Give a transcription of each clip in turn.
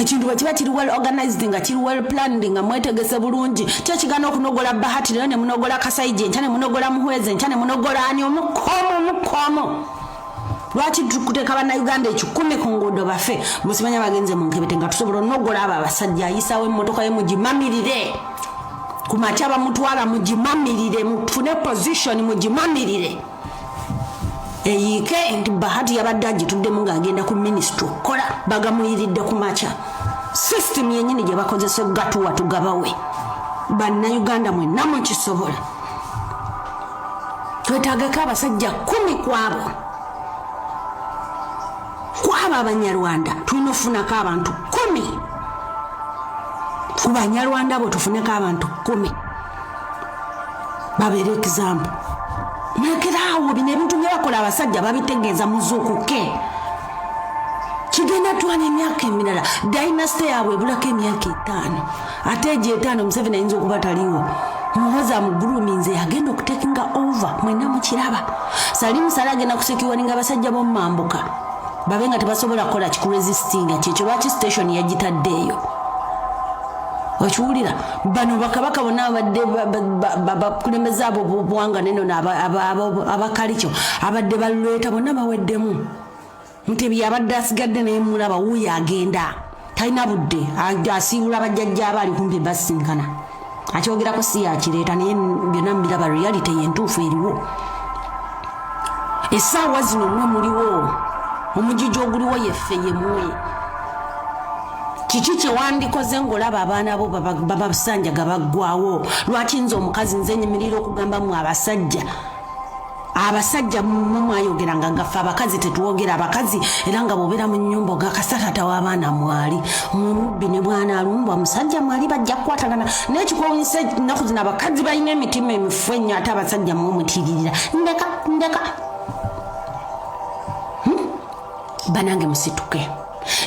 ekintu bwe kiba kiri well organized nga kiri well planned nga mwetegese bulungi kyo kigana okunogola bahati leero ne munogola kasaije enkya ne munogola muhwezi enkya ne munogola ani omukomu omukomu lwaki tukuteeka bannayuganda ekikumi ku nguudo bafe musimanya bagenze mu nkebete nga tusobola onogola abo abasajja ayisawo emmotoka ye mugimamirire ku makya bamutwala mugimamirire mufune position mugimamirire eyiike nti bahati yabadde agituddemu ng'agenda ku minisitule okukola bagamuyiridde ku makya sisitimu yennyini gye bakozesa okugatuwa tugabawe bannayuganda mwenna mukisobola twetagako abasajja kumi kwabo kwabo abanyarwanda tulina okufunako abantu kumi ku banyarwanda abo tufuneko abantu kumi babeera ekizambu nageraawo bino ebintu byebakola abasajja babitegeeza muzuukuke kigenda twala emyaka emirala dynasty yaabwe ebulako emyaka etaano ate egyo etaano museveni ayinza okuba taliwo muhoza muguluminze agenda okutekinga over mwena mukiraba salimusala agenda kusekiwaninga abasajja bomumambuka babe nga tebasobola kukola kikurezisitinga kyekyo lwaki station yagitadde eyo okiwulira bano bakabaka bona abadde bakulembeze abo bwanga neno abakalikyo abadde balweta bonna baweddemu mutebi abadde asigadde naye mulaba wuyo agenda talina budde asiibula bajjajja aba ali kumpi basinkana akyogerako si yakireeta naye byonna mubiraba reality yentuufu eriwo esaawa zino mwe muliwo omujiji oguliwo yeffe yemwe kiki kyewandikoze ngaolaba abaana bo babasanjaga baggwawo lwaki nze omukazi nze nyimirira okugamba mu abasajja abasajja mumwayogera nga ngaffe abakazi tetwogera abakazi era nga bwobeera mu nyumba ogakasatata w'abaana mwali mumubbi ne bwana alumbwa musajja mwali bajja kukwatagana naye kikwewunyisa ennaku zino abakazi balina emitima emifu ennyo ate abasajja mumutiririra ndeka ndeka hmm? banange musituke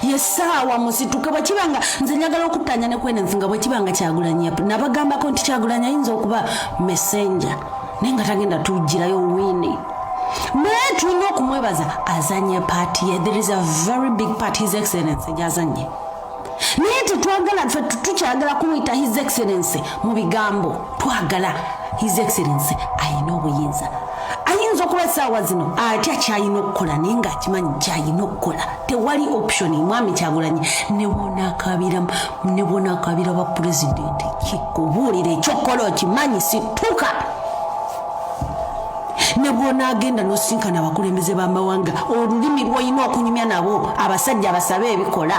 yesaawa musituke bwekibanga nze njagala okuttanya ne kwenensi nga bwekibanga kyagulanyi nabagambako nti kyagulanyi ayinza okuba messenja naye nga tagenda tujjirayo wini naye tulina okumwebaza azanye paati ye there is a very big part his excellence gyazanye naye tetwagala fe tukyagala kumuyita his excellence mu bigambo twagala his excellency ayina obuyinza ayinza okuba esaawa zino atya kyalina okukola naye nga akimanyi kyalina okukola tewali option mwami kyagulanyi nebonakabira nebonakabira ba pulezidenti kikubuulira ekyokukola okimanyi situka nebwonagenda nosinkana abakulembeze bamawanga olulimi lwoyina okunyumya nabo abasajja abasabe ebikola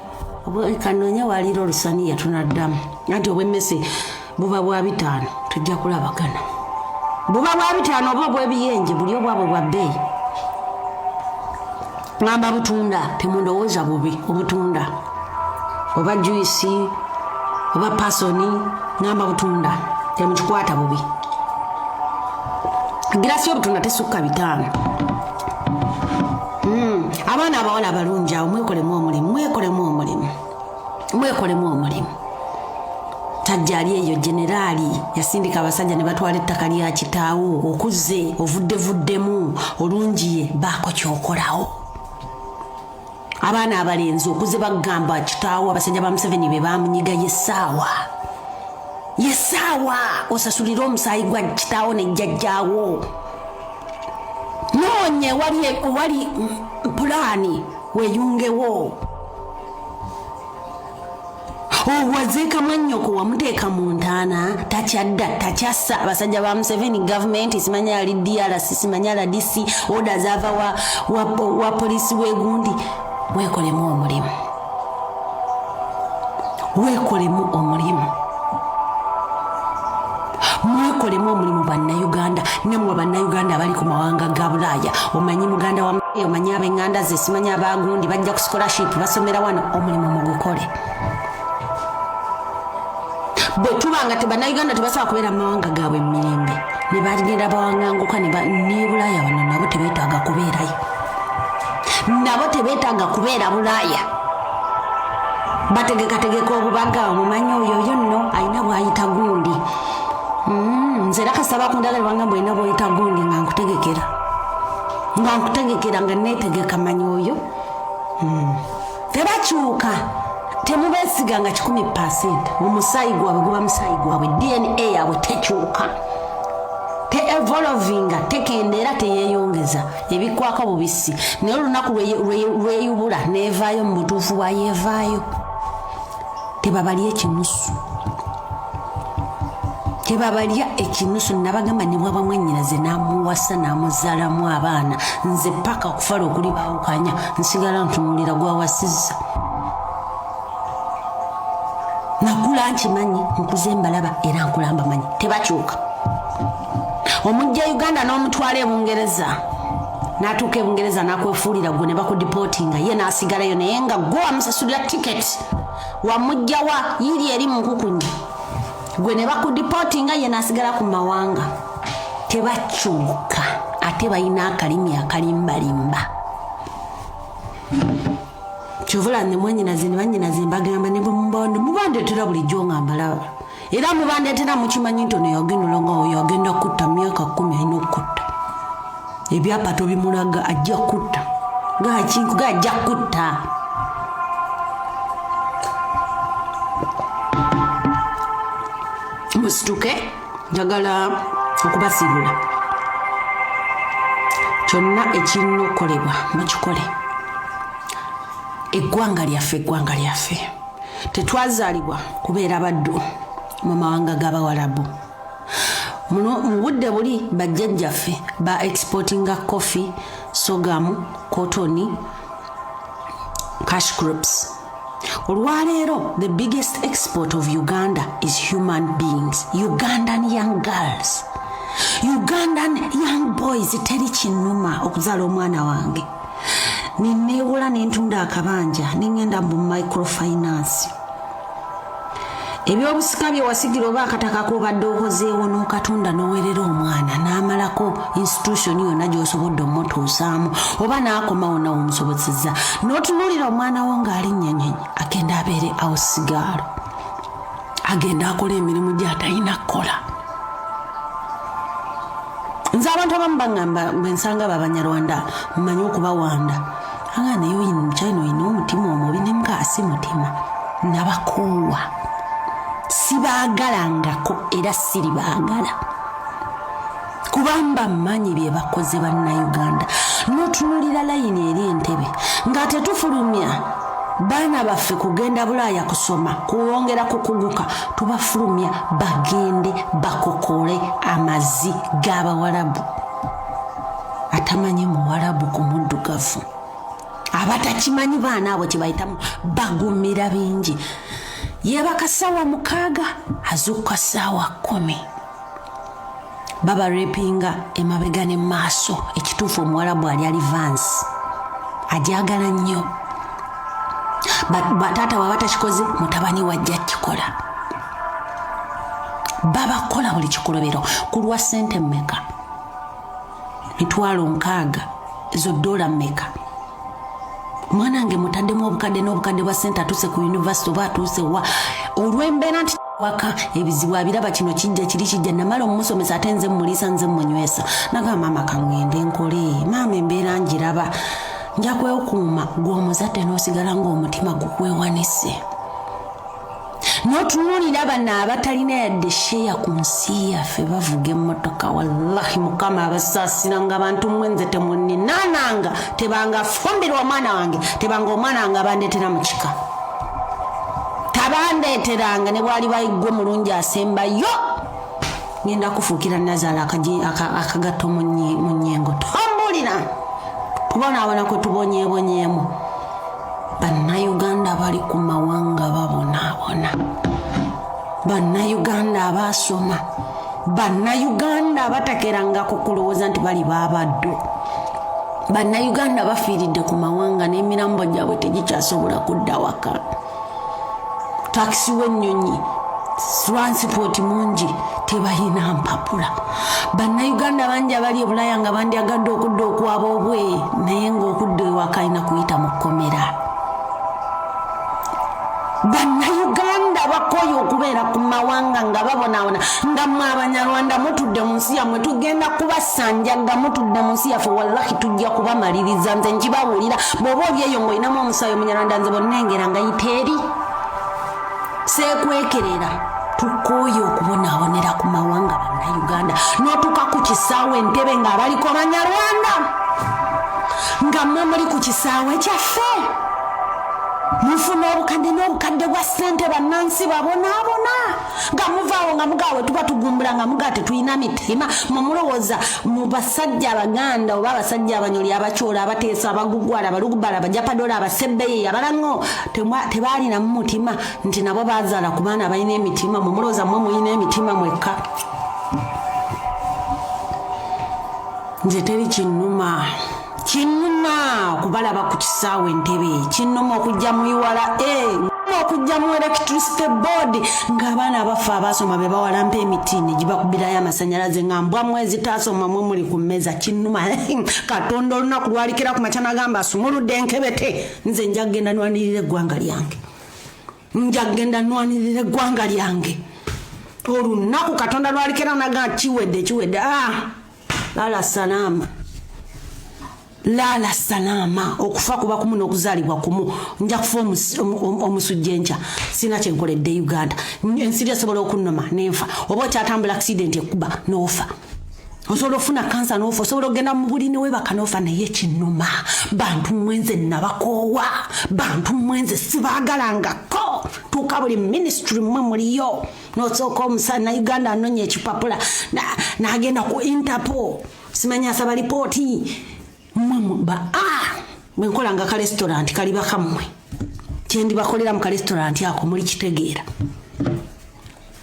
kanonya waliira olusaniya tunaddamu anti obwemmese buba bwa bitaano tujja kulabagana buba bwa bitaano oba obwebiyenje buli obwabwe bwa bbeeyi ngamba butunda temundowooza bubi obutunda oba juisi oba pasoni ngamba butunda temukikwata bubi girasi obutunda tesukka bitaano hmm, abaana abawala abalungi awo mwekolemu omulimu mwekolemu omulimu mwekolemu omulimu tajjaali eyo generaali yasindika abasajja ne batwala ettaka lya kitaawo okuze ovuddevuddemu olungiye baako kyokolawo abaana abalenzi okuze bagamba kitaawo abasajja ba museveni be bamunyiga yesaawa yesaawa osasulire omusaayi gwa kitaawo ne jjajjaawo noonye wali wali pulaani weyungewo owazeeka mwannyoko wamuteeka mu ntaana takyadda takyassa abasajja ba museveni gavumenti simanya yali drc simanya rdc oda zaava wa, wa, wa polisi wegundi weekolemu omulimu weekolemu omulimu mwekolemu omulimu bannayuganda nemwe bannayuganda abali ku mawanga ga bulaaya omanyi muganda wa omanyi abenganda ze simanyi abagundi bajja ku scholarship basomera wano omulimu mugukole bwe tuba nga tebannayuganda tebasobola kubeera mu mawanga gaabwe mumirembe ne bagenda bawanganguka ne bulaaya wano nabo tebeetaaga kubeerayo nabo tebeetaaga kubeera bulaaya bategekategeka obubaga omumanyi oyo yo nno alina bwayita gundi mm, nze era kasaba ku ndala lwanga mbwalina bwoyita gundi nga nkutegekera nga nkutegekera nga netegeka manyi oyo mm. tebakyuka temubesiga nga kikumi pasent omusaayi gwabwe guba musaayi gwabwe dna yabwe tekyuka teevolovinga tekendeera teyeyongeza ebikwako bubisi naye olunaku lweyubula nevaayo mu butuufu bwayevaayo tebabalya ekinusu tebabalya ekinusu nabagamba nebwaba mwanyinaze namuwasa namuzalamu abaana nze paka okufala okuli bawukanya nsigala ntunulira gwawasiza nakula nkimanyi nkuze mbalaba era nkulambamanyi tebakyuka omujja uganda n'omutwala e bungereza n'atuuka e bungereza n'akwefuulira gwe ne bakudipootinga ye n'asigalayo naye nga gwe wamusasulira tiketi wamujjawa yiri eri mu nkukunyi gwe ne bakudipootinga ye n'asigala ku mawanga tebakyuka ate balina akalimi akalimbalimba kyovula ne mwanyinazi ne banyinazi mbagamba ne bwe mubande mubandetera bulijjo nga mbalaba era mubandeetera mukimanyi nti ono yagenda olonga oyo agenda kutta myaka kumi alina okukutta ebyapa tobimulaga ajja kutta gakinkuga ajja kutta musituke njagala okubasiibula kyonna ekirina okukolebwa mukikole eggwanga lyaffe eggwanga lyaffe tetwazaalibwa kubeera baddu mu mawanga g'abawalabu muno mu budde buli bajjajjaffe ba exportinga coffee sogamu cotoni cash groups olwaleero the biggest export of uganda is human beings ugandan young girls ugandan young boys teri kinnuma okuzaala omwana wange neneewula ne ntunda akabanja ne ŋŋenda mu microfinance ebyobusika bye wasigira oba akataka kobadde okozeewo n'okatunda n'owerera omwana n'amalako institution yonna gy'osobodde omutuusaamu oba n'akomawo nawe omusobozeza n'otunuulira omwana wo ng'alinnyanyonyi agenda abeere ausigaalo agenda akola emirimu gyatalina kukola nze abantu abamu bagamba bwensanga abo abanyarwanda mmanyi okubawanda anga naye oyina omukyali noyina omutima omubi nemukasi mutima nabakoowa sibaagalangako era siribaagala kubamba mmanyi bye bakoze bannayuganda n'otunulira layini eri entebe nga tetufulumya baana baffe kugenda bulaaya kusoma kuwongera kukuguka tubafulumya bagende bakokole amazzi g'abawalabu atamanyi muwalabu ku muddugavu abatakimanyi baana abo kyebayitamu bagumira bingi yebakasawa mukaaga azuuka saawa kumi baba repinga emabega ne maaso ekituufu omuwalabu ali ali vans ajagala nnyo bataata waba takikoze mutabani wajja kikola babakola buli kikolobero kulwa sente meka mitwalo nkaaga ezo dola meka mwana wange mutaddemu obukadde n'obukadde bwa sente atuuse ku univesity oba atuuse wa olw'embeera nti waka ebizibu abiraba kino kijja kiri kijja namala omusomesa ate nze mumulisa nze mumunywesa nagamba maama kangende nkole maama embeera ngiraba nja kwekuuma gw'omuzadde n'osigala ng'omutima gukwewanise notunulira bano abatalina yadde sheya ku nsi yaffe bavuga emmotoka wallahi mukama abasaasiranga abantu mwenze temuninananga tebanga fumbirwa omwana wange tebanga omwana wange abandetera mu kika tabandeteranga ne bwali bayiggwe mulungi asembayo ngenda kufuukira nazaala akagatto mu nyengo tombulira kubona abona kwe tubonyebonyemu Bannayuganda bali ku mawanga babonaabona. Bannayuganda abaasoma. Bannayuganda abatakerangako kulowooza nti bali baabaddu. Bannayuganda bafiiridde ku mawanga n'emirambo gyabwe tegikyasobola kudda waka. takisi w'ennyonyi transport mungi tebalina mpapula bannayuganda bangi abali ebulaya nga bandyagadde okudda okwaba obwe naye ngaokudda ewaka alina kuyita mu kkomera bannayuganda bakoye okubeera ku mawanga nga babonaabona nga mwe abanyarwanda mutudde mu nsi yammwe tugenda kubasanjaga mutudde mu nsi yaffe wallahi tujja kubamaliriza nze nkibawulira bweoba olyeyo ngaolinamu sayo munyarwanda nze bonnengera nga yiteeri sekwekerera tukooye okubonaabonera ku mawanga bannauganda notuka ku kisaawe entebe ng'abaliko banyarwanda nga mwe muli ku kisaawe kyaffe mufuna obukadde n'obukadde bwa ssente bannansi babonaabona nga muvaawo nga mugaawe tuba tugumbula nga mugaa tetulina mitima mumulowooza mu basajja abaganda oba abasajja abanyoli abacoola abateesa abagugwala abalugubala abajapadola abasebbeyeyi abalaŋo tebaalina mu mutima nti nabo bazaala ku baana balina emitima mumulowooza mwe mulina emitima mwekka nze teri kinnuma kinnuma okubalaba ku kisaawe entebe kinnuma okujja mu iwala e okujja mu electricity board ng'abaana abaffe abaasoma be bawalampa emiti ne gibakubirayo amasanyalaze nga mbwa mwezi taasoma mwe muli ku mmeeza kinnuma katonda olunaku lwalikira ku makya nagamba asumuludde enkebete nze nja kugenda nwanirira eggwanga lyange nja kugenda nwanirira eggwanga lyange olunaku katonda lwalikira naga kiwedde kiwedde ah! lala salama lala salama okufa kuba kumu n'okuzaalibwa kumu nja kufa omusujja enkya sirina kyenkoledde uganda ensi lyasobola okunnoma nenfa oba okyatambula accident ekuba n'ofa osobola ofuna kansa nofa osobola okugenda mu buli newebaka nofa naye kinuma bantu mwenze nabakoowa bantu mwenze sibagalangako tuuka buli ministry mwe muliyo nosooka omusa na uganda anonya ekipapula nagenda na ku interpol simanya asaba lipooti mwemuba a ah! bwenkolanga ka restaurant kali bakammwe kyendibakolera mu ka restaurant ako muli kitegeera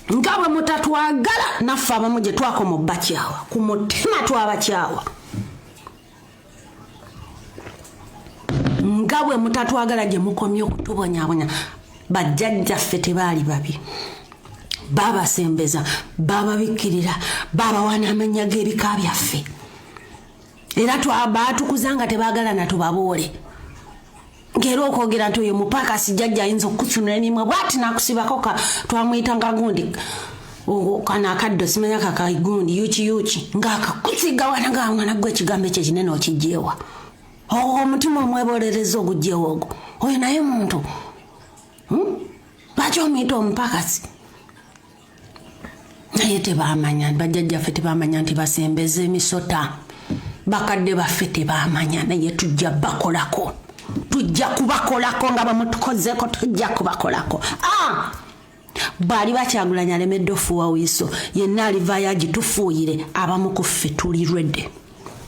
nga bwe mutatwagala naffe abamu gye twakoma obbakyawa ku mutima twabakyawa nga bwe mutatwagala gye mukomye okutubonyabonya bajjajjaffe tebaali babi babasembeza bababikkirira babawa n'amannya g'ebika byaffe era baatukuza nga tebaagala natubaboole ngera okwogera nti oyo mupaka sijajja ayinza okukusunula emimwe bwati nakusibako ka twamuyitanga gundi kano akaddo simanya kakaigundi yuki yuki ngaakakusiga wana nga mwana gwe ekigambo ekyo ekinene okijjeewa ogwo omutima omwebolereza ogujjeewa ogwo oyo naye muntu hmm? lwaki omuyita omupakasi naye tebamanya bajjajjaffe tebamanya nti basembeza emisota bakadde baffe tebamanya naye tujja bakolako tujja kubakolako nga bamutukozeko tujja kubakolako ah! bwali bakyagulanya alemedde ofuuwa wiiso yenna alivaayo agitufuuyire abamu ku ffe tuli rwedde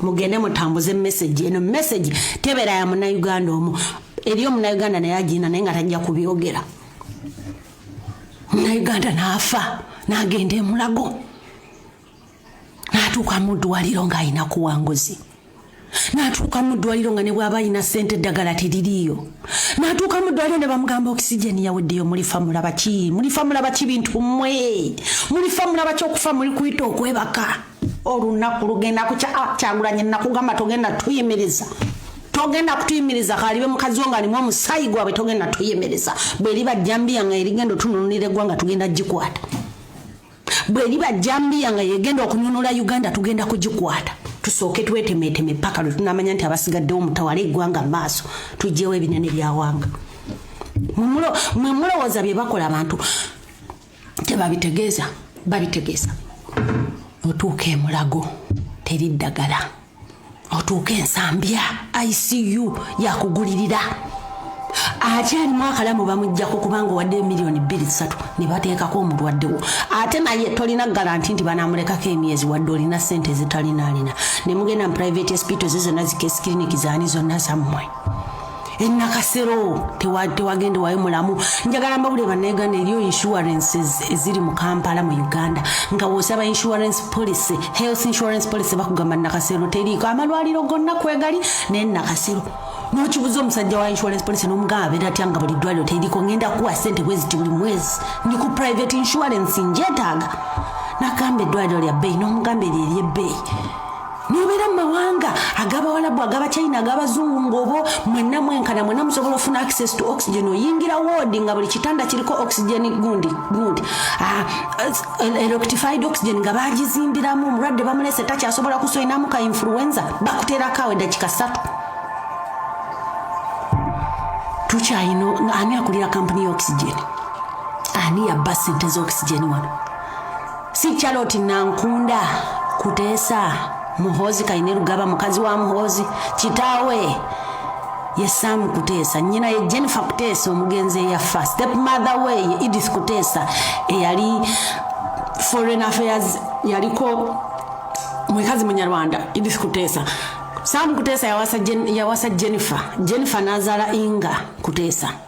mugende mutambuze message eno message tebeera ya munauganda omu eri omunauganda naye agiina naye nga tajja kubyogera munauganda naafa nagenda emulago natuuka mu ddwaliro ng'alina kuwanguzi natuuka mu ddwaliro nga ne bwaba alina sente eddagala teririiyo natuuka mu ddwaliro ne bamugamba okisijeni yaweddeyo mulifa mulaba ki mulifa mulaba ki bintu mmwe mulifa mulaba ki okufa muli kuyita okwebaka olunaku lugenda kukya ah, kyagulanye nakugamba togenda tuyimiriza togenda kutuyimiriza kalibe mukazi wo ngalimu omusayi gwabwe togenda tuyimiriza bweriba jambiya nga erigenda otununulira eggwanga tugenda gikwata bweriba jambiya nga yegenda okununula uganda tugenda kugikwata tusooke twetemeteme paka lwe tunamanya nti abasigaddewo mutawala eggwanga maaso tugyewo ebinene byawanga mwe mulowooza bye bakola abantu tebabitegeeza babitegeeza otuuka emulago teri ddagala otuuka ensambya icu yakugulirira akyalimu akalamu bamujjako kubanga owadde emiliyoni bbiri ssatu ne bateekako omulwaddewo ate naye tolina garanti nti banamulekako emyezi wadde olina ssente ezitalinaalina ne mugenda mu private hospital ze zonna zikesi kiriniki zaani zonna zammwe enakasero tewagenda wayo mulamu njagala mbabulire banauganda eriyo insurances eziri mu kampala mu uganda nga wosaba insurance policy health insurance policy bakugamba nakasero teriiko amalwaliro gonna kwegali naye nakasero nokibuza omusajja wa insurance policy nomugamba abeera atya nga buli ddwaliro teriiko ngenda kuwa sente bweziti buli mwezi ndi ku private insurance njetaaga nagamba eddwaliro lya bbeyi nomugamba eryo eryebbeyi nobeera mumawanga agabawalabu agabachina agabazungu ngaobo mwena mwenkana mwena musobola ofuna access to oxygen oyingira woodi nga buli kitanda kiriko oxygen gundi gundi ah, electified oxygen nga bagizimbiramu omulwadde bamulese takyasobola kusoinamu ka influenza bakuterako awo edakika satu tukyayina ani akulira kampuni ya oxygen ani yabba sente za oxygen wano si charlotte nankunda kuteesa muhoozi kaine lugaba mukazi wa muhoozi kitaawe ye sam kuteesa nyina ye jennifer kuteesa omugenzi eyaffa step mother we ye edith kuteesa eyali foreign affairs yaliko mwekazi munyarwanda edith kuteesa sam kuteesa yawasa, Jen, yawasa jennifer jennifer nazala inga kuteesa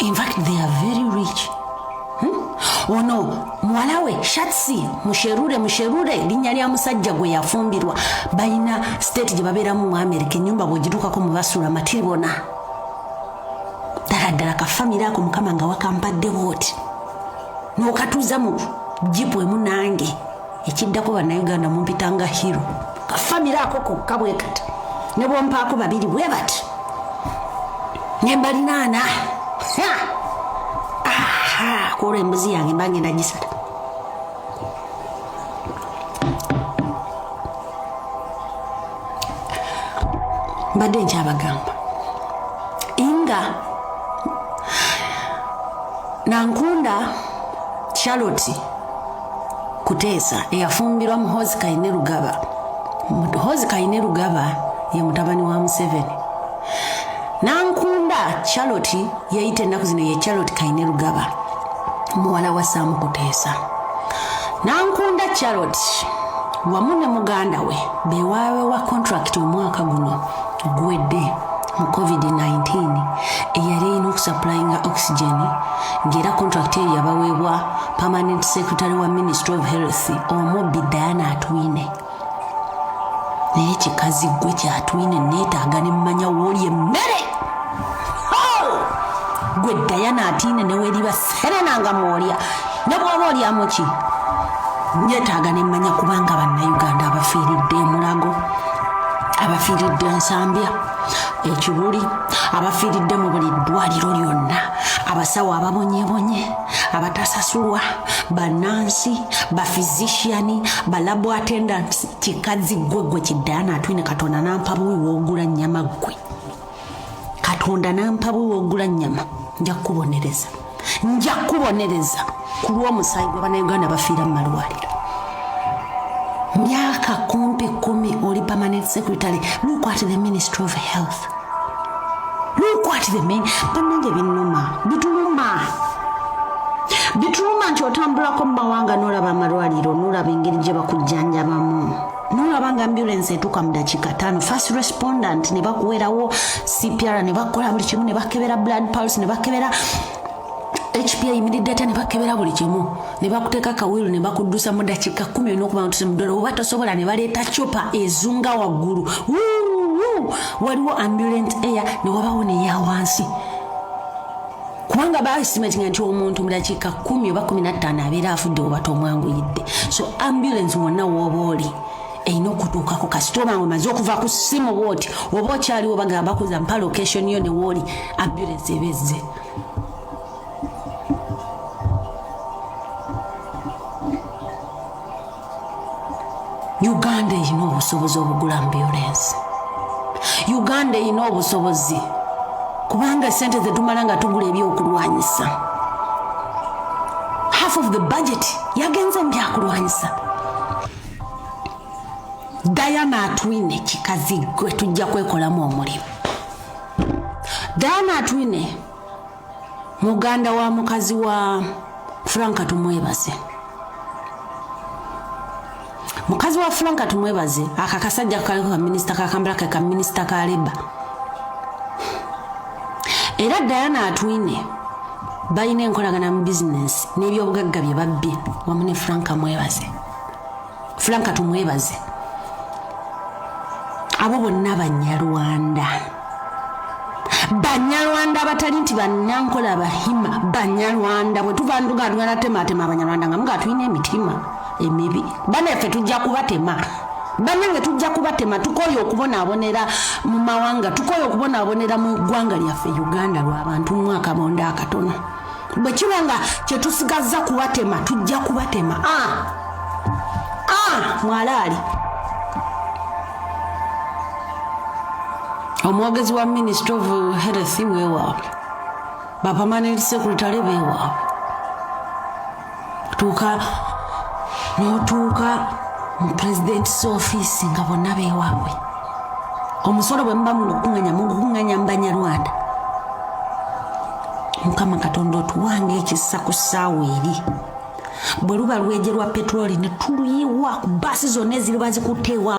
In fact, they are very rich. Hmm? ono muwala we shatsi musherure musherure linnya lya musajja gwe yafumbirwa balina state gye babeeramu mu amerika ennyumba bwegitukako mu basuula matiri bona ddala ddala kafamire ako mukama nga wakampadde booti n'okatuuza mu jipu emunange ekiddako bannayuganda mumpita nga hero kafamire ako kokka bwe kati ne bwompaako babiri bwe bati ne mbalinaana kwolwo embuzi yange mba ngenda gisala mbadde nkyabagamba inga nankunda charlotte kuteesa eyafumbirwa muhozi kaine lugaba muhozi kaine lugaba ye mutabani wa museveni nankunda charlotte yeyita ennaku zino ye charlotte kaine lugaba muwala wa saamu kuteesa nankunda charlotte wamu ne muganda we bewaawewa kontrakiti omwaka guno guwedde mu covid-19 eyali erina okusapulayinga oxygen ng'era contract eyo yabaweebwa permanent secretary wa ministry of health omubbi diana atwine naye kikazi gwe kyatwine neetaaga ne mumanya wooli emmere gwe diana atiine neweriba serena nga mwolya ne bwoba olyamuki nyetaaga nemmanya kubanga bannayuganda abafiiridde emulago abafiiridde ensambya ekibuli abafiiridde mu buli ddwaliro lyonna abasawo ababonyebonye abatasasulwa banansi bafizisiani balabo attendants kikazi ggwe gwe kiddayana atwine katonda nampa buwi woogula nnyama ggwe katonda nampa bwe wogula nyama nja kubonereza nja kubonereza ku lw'omusaayi gwa banauganda bafiira mu malwaliro myaka kumpi kumi oli permanent secretary look at the ministry of health look at the main banange binuma bituluma bituluma nti otambulako mu mawanga n'olaba amalwaliro n'olaba engeri gye bakujjanjabamu nolaba nga ambulance etuuka mu dakiika taano first respondent ne bakuwerawo cpr ne bakola buli kimu ne bakebera blood pulse ne bakebera hp eyimiridde atya ne bakebera buli kimu ne bakuteeka kawiru ne bakuddusa mu dakiika kumi olina okuba ntuse mudolo oba tosobola ne baleeta copa ezunga waggulu waliwo ambulance air ne wabawo neya wansi kubanga baestimatinga nti omuntu mu dakiika kumi oba kumi nattaano abeera afudde oba tomwanguyidde so ambulance wonna wooba oli erina okutuukako kasita oba nga omaze okuva ku simu bwoti oba okyaliwo bagamba kuza mpa location yo newooli ambulance eba ezze uganda erina obusobozi obugula ambulensi uganda erina obusobozi kubanga sente zetumala nga tugula ebyokulwanyisa half of the budget yagenze mu byakulwanyisa dayana atwine kikazi gwe tujja kwekolamu omulimu dayana atwine muganda wa mukazi wa franka tumwebaze mukazi wa franka tumwebaze aka kasajja kaliko kaminisita kakambala ke kaminisita ka leba era diana atwine balina enkolagana mu bizinensi n'ebyobugagga bye babbye wamu ne franka mwebaze fulanka tumwebaze abo bonna banyarwanda banyarwanda abatali nti banankola abahima banyarwanda bwetuva nduga tuganatematema abanyarwanda nga muga tulina emitima emibi banaffe tujja kubatema banange tujja kubatema tukoye okubonaabonera mu mawanga tukoye okubonaabonera mu ggwanga lyaffe uganda lwabantu mwaka bonda akatono bwe kiba nga kye tusigazza kubatema tujja kubatema a ah. a ah, mwalaali omwogezi wa ministry of health wewaabwe bapamanent secretary bewaabwe tuuka notuuka mu pulezidentisi ofiisi nga bonna bewaabwe omusolo bwe muba mugukunganya mugukunganya mu banyarwanda mukama katonda otuwanga ekisa ku ssaawa eri bwe luba lwejerwa petroli ne tuluyiwa ku baasi zonna eziriba zikutteewa